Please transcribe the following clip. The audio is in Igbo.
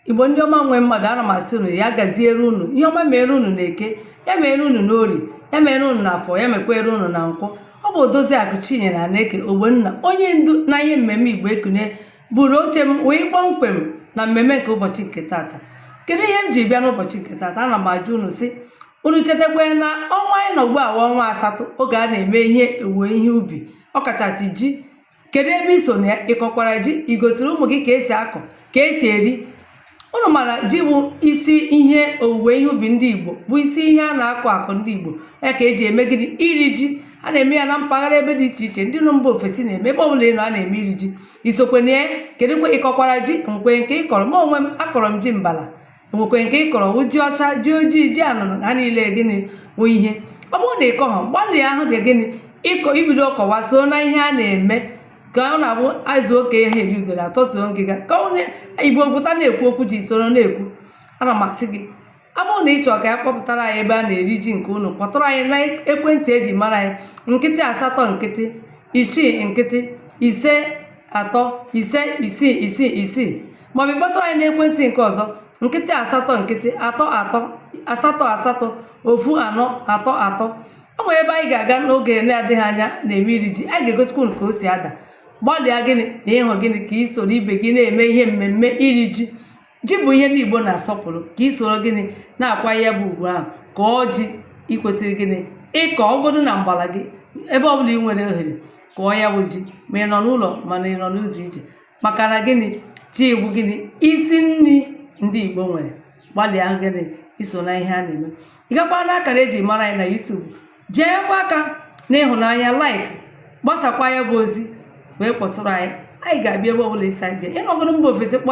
igbo ndị ọma nwe mmadụ ana m asị unu ya gaziere unu ihe ọma mere unu na eke ya mere unu na orie ya mere unu na afọ ya mekwere unu na nkwọ ọ bụ odoziakụ chinyere aneke ogbenna onye ndu na ihe mmemme igbo ekunie buru oche m wee kpọmkwem na mmemme nke ụbọchị nke tata kedu ihe m ji bịa n'ụbọchị nke tata ana m ajụ unu sị unu chetakwa na ọnwa anyị nọ ugbu a wụ ọnwa asatọ oge a na-eme ihe owuwe ihe ubi ọkachasị ji kedu ebe i so na ya ị kọkwara ji i gosiri ụmụ gị ka esi akọ ka esi eri unu mara ji bụ isi ihe owuwe ihe ubi ndị igbo bụ isi ihe a na-akọ akọ ndị igbo ya ka eji eme gịnị iri ji a na-eme ya na mpaghara ebe dị iche iche ndị nọ mba ofesi na-eme ebe ọbụla ị nọ a na-eme iri ji i sokwe na ya kedụkwa ị kọkwara ji nwekwe nke ị kọrọ mụ onwe m akọrọ m ji mbala enwekwe nke ị kọrọ wụ ji ọcha ji ojii ji anụnụ ha niile gịnị wụ ihe ọ bụrụ na ị kọghọ gbalịa ahụ dị gịnị ịkọ ibido kọwa so na ihe a na-eme ka ọ na-abụ azụ oke ihe eri udere atọtuo ngịga ka onye igbo pụta na-ekwu okwu ji soro na-ekwu ana m asị gị ọ bụrụ na ị chọrọ ka anyị kpọpụtara anyị ebe a na-eri ji nke unu kpọtụrụ anyị na ekwentị eji mara anyị nkịtị asatọ nkịtị isii nkịtị ise atọ ise isii isii isii maọbụ ị kpọtụrụ anyị n'ekwentị nke ọzọ nkịtị asatọ nkịtị atọ atọ asatọ asatọ ofu anọ atọ atọ ọ nwere ebe anyị ga-aga n'oge na-adịghị anya na-eme iri ji anyị ga-egosikwa unu ka o si ada gbalịa gịnị na ịhụ gịnị ka i soro ibe gị na-eme ihe mmemme iri ji ji bụ ihe ndị Igbo na-asọpụrụ ka i soro gịnị na-akwa ya bụ ugwu ahụ kọọ ji ị kwesịrị gịnị ịkọ ọ bụgodu na mgbala gị ebe ọbụla ị nwere ohere kọọ ya bụ ji ma ị nọ n'ụlọ mana ị nọ n'ụzọ ije maka na gịnị ji bụ gịnị isi nri ndị Igbo nwere gbalịa gịnị i so na ihe a na-eme ị gakwa na akara eji mara anyị na YouTube bịanyekwa aka n'ịhụnanya like gbasakwa ya bụ ozi wee kpọtụrụ anyị anyị ga-abịa ebe ọbụla ị sị anyị bịa ị nọgoro mba ofesi kpọ